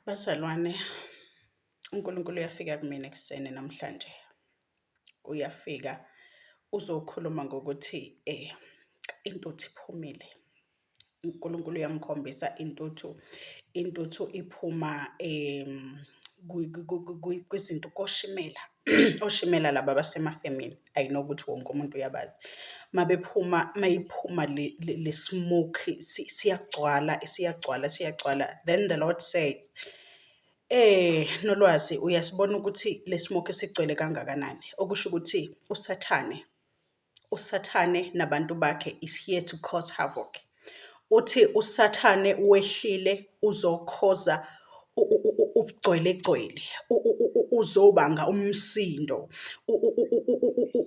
Bazalwane, uNkulunkulu uyafika kumina ekuseni namhlanje. Uyafika uzokhuluma ngokuthi intuthu iphumile. UNkulunkulu uyangikhombisa intuthu, intuthu iphuma kwizinto, koshimela. oshimela laba abasemafemini i know ukuthi wonke umuntu uyabazi mabephuma mayiphuma le smoke siyagcwala siyagcwala siyagcwala then the lord says Eh Nolwazi uyasibona ukuthi lesimoke sigcwele kangakanani okusho ukuthi usathane uSathane nabantu bakhe is here to cause havoc. Uthi uSathane wehlile uzokhoza ubugcwelegcwele, uzobanga umsindo,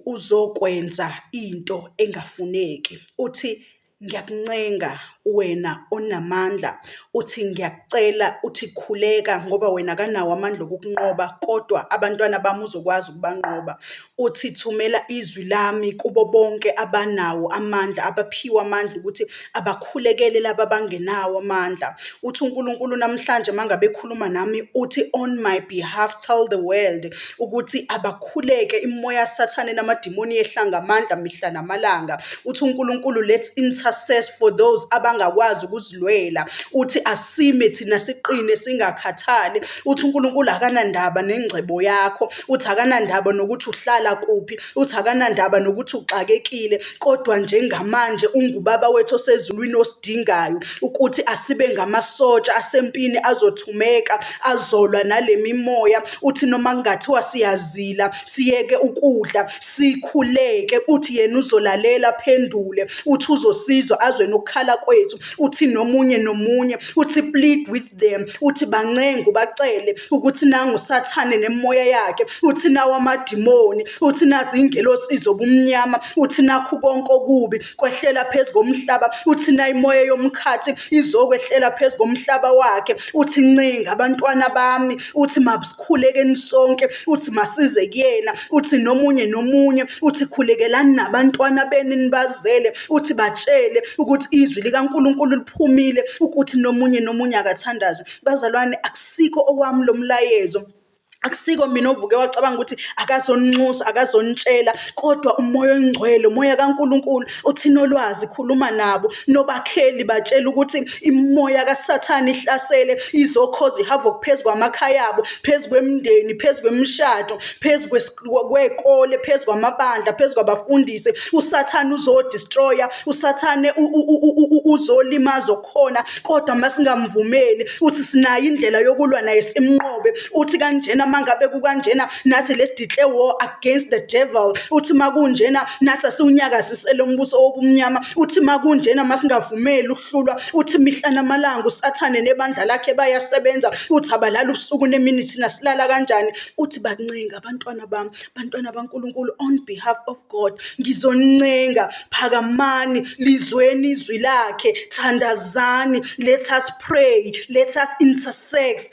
uzokwenza into engafuneki. Uthi ngiyakuncenga wena onamandla uthi ngiyakucela uthi khuleka ngoba wena kanawo amandla okukunqoba kodwa abantwana bami uzokwazi ukubanqoba uthi thumela izwi lami kubo bonke abanawo amandla abaphiwe amandla ukuthi abakhulekele laba abangenawo amandla uthi uNkulunkulu namhlanje mangabe ekhuluma nami uthi on my behalf tell the world ukuthi abakhuleke imoya sathane namadimoni ehlanga amandla mihla namalanga Uthi uNkulunkulu let's intercess for those abangakwazi ukuzilwela. Uthi asime thina siqine singakhathali. Uthi uNkulunkulu akanandaba nengcebo yakho. Uthi akanandaba nokuthi uhlala kuphi. Uthi akanandaba nokuthi uxakekile kodwa njengamanje ungubaba wethu osezulwini osidingayo ukuthi asibe ngamasotsha asempini azothumeka azolwa nalemimoya uthi noma kungathiwa siyazila siyeke ukudla sikhuleke uthi yena uzolalela phendule uthi uzosizwa azwe nokukhala kwethu uthi nomunye nomunye uthi plead with them uthi bancenga ubacele ukuthi nangu sathane nemoya yakhe uthi nawo amadimoni uthi nazi ingelosi zobumnyama uthi nakhu konke okubi kwehlela phezu komhlaba uthi na imoya yomkhathi izokwehlela phezu komhlaba wakhe uthi ncinga abantwana bami uthi masikhulekeni sonke uthi masize kuyena uthi nomunye nomunye uthi khulekelani nabantwana benu nibazele uthi batshele ukuthi izwi likaNkuluNkulu liphumile ukuthi nomunye nomunye akathandaze bazalwane akusikho okwami lomlayezo akusiko mina ovuke wacabanga ukuthi akazonixusa akazonitshela kodwa umoya oyingcwele umoya kaNkuluNkulu uthina olwazi khuluma nabo nobakheli batshela ukuthi imoya kaSathane ihlasele izokhoza ihava phezu kwamakhaya abo phezu kwemndeni phezu kwemishado phezu kwekole phezu kwamabandla phezu kwabafundisi uSathane uzodestroya uSathane uzolimaza khona kodwa masingamvumeli uthi sinayo indlela yokulwa naye simnqobe uthi kanjena mangabe kukanjena nathi let's declare war against the devil uthi makunjena nathi asiwunyakazisele umbuso wobumnyama uthi makunjena masingavumeli ukuhlulwa uthi mihla namalanga usathane nebandla lakhe bayasebenza uthi abalala ubusuku nemini thina silala kanjani uthi bakuncenga abantwana bami bantwana baNkulunkulu on behalf of God ngizoncenga phakamani lizweni izwi lakhe thandazani let us pray let us intersex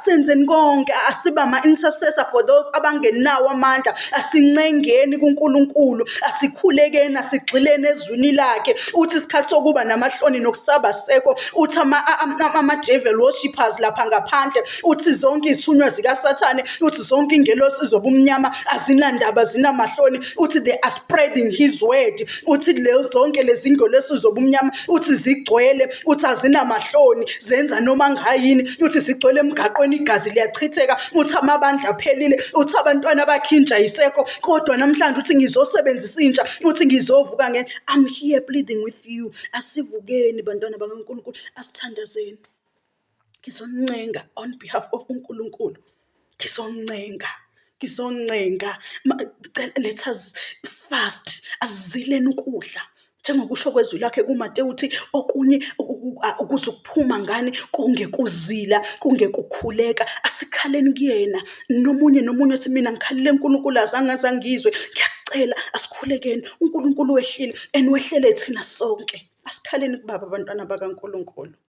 senzeni konke asiba ama intercessor for those abangenawo amandla asincengeni kuNkulunkulu asikhulekeni asigxileni ezwini lakhe uthi isikhathi sokuba namahloni nokusaba sekho uthi ama ama devil worshippers lapha ngaphandle uthi zonke izithunywa zikaSathane uthi zonke ingelosi zobumnyama azinandaba zinamahloni uthi they are spreading his word uthi le zonke lezi ngelosi zobumnyama uthi zigcwele uthi azinamahloni zenza noma ngayini uthi zigcwele emgaqweni igazi liyachitheka uthi amabandla aphelile uthi abantwana bakhinja yisekho kodwa namhlanje uthi ngizosebenzisa intsha uthi ngizovuka nge I'm here pleading with you asivukeni bantwana bakaNkulunkulu asithandazeni Ngizoncenga on behalf of uNkulunkulu. Ngizoncenga, ngizoncenga. Ngicela let us fast, asizileni ukudla. Njengokusho kwezwi lakhe kuMatewu uthi okunye kuzokuphuma ngani kungekuzila, kungekukhuleka. Asikhaleni kuyena. Nomunye nomunye uthi mina ngikhalile uNkulunkulu azange aze angizwe. Ngiyacela asikhulekeni. UNkulunkulu wehlile and wehlele thina sonke. Asikhaleni kubaba abantwana bakaNkulunkulu.